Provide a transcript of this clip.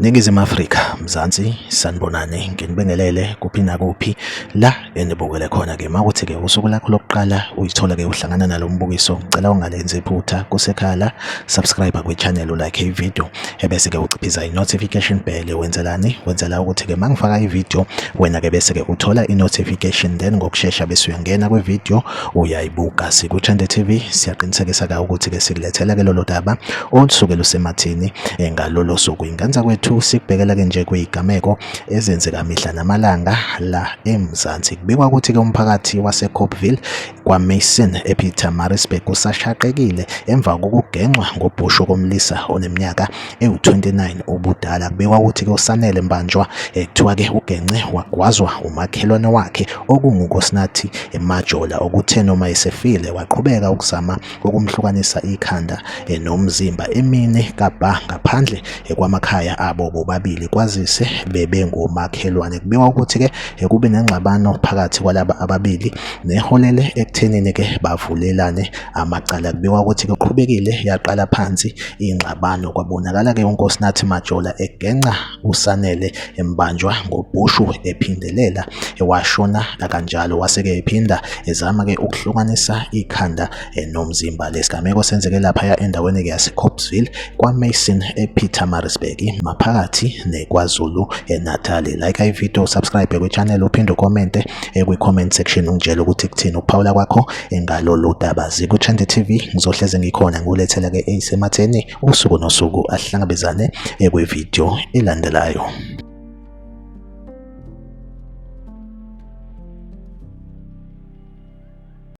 Ningizimu Afrika, Mzansi, sanibonani, nginibingelele kuphi nakuphi la enibukele khona ke makuthi ke usuku lakho lokuqala uyithola ke uhlangana nalombukiso, ngicela ungalenzi iphutha kusekhala, subscribe kwi channel like i video. ebese ke uciphiza i-notification bell wenzelani wenzela ukuthi ke mangifaka i-video wena ke bese ke uthola i-notification then ngokushesha bese uyangena kwi-video uyayibuka siku-Trend TV siyaqinisekisa ka ukuthi ke sikulethela ke lolo daba olusuke lusemathini eh, ngalolo suku inganza kwethu sikubhekela ke nje kuyigameko ezenzeka mihla namalanga la eMzansi kubikwa ukuthi ke umphakathi waseCopville KwaMason ePietermaritzburg kusashaqekile emva kokugenxwa ngobhushu komlisa oneminyaka ewu-29 ubudala. Kubikwa ukuthi kusanele mbanjwa kuthiwa-ke ugenxe wagwazwa umakhelwane wakhe okungukosinathi emajola okuthe noma esefile waqhubeka ukuzama okumhlukanisa ikhanda eh, nomzimba emini kabha ngaphandle eh, kwamakhaya abo bobabili kwazise bebengomakhelwane kubikwa ukuthi ke eh, kube nengxabano phakathi kwalaba ababili neholele ekuthenini ke bavulelane amacala kubikwa ukuthi kuqhubekile yaqala phansi ingxabano kwabonakala ke uNkosinathi Majola egenca uSanele embanjwa ngobhushu ephindelela ewashona kanjalo waseke ephinda ezama ke ukuhlukanisa ikhanda eh, nomzimba lesigameko senzeke lapha endaweni ke yaseCopsville kwaMason ePietermaritzburg maphakathi neKwaZulu eh, Natal like i video subscribe kwichannel uphinde ucommente eh, kwi-comment section ungitshele ukuthi kuthini ukuphawula kwakho ngalolu daba zikuchande TV ngizohleze ngikhona ngulethela ke eyisematheni usuku nosuku ahlangabezane kwividiyo elandelayo.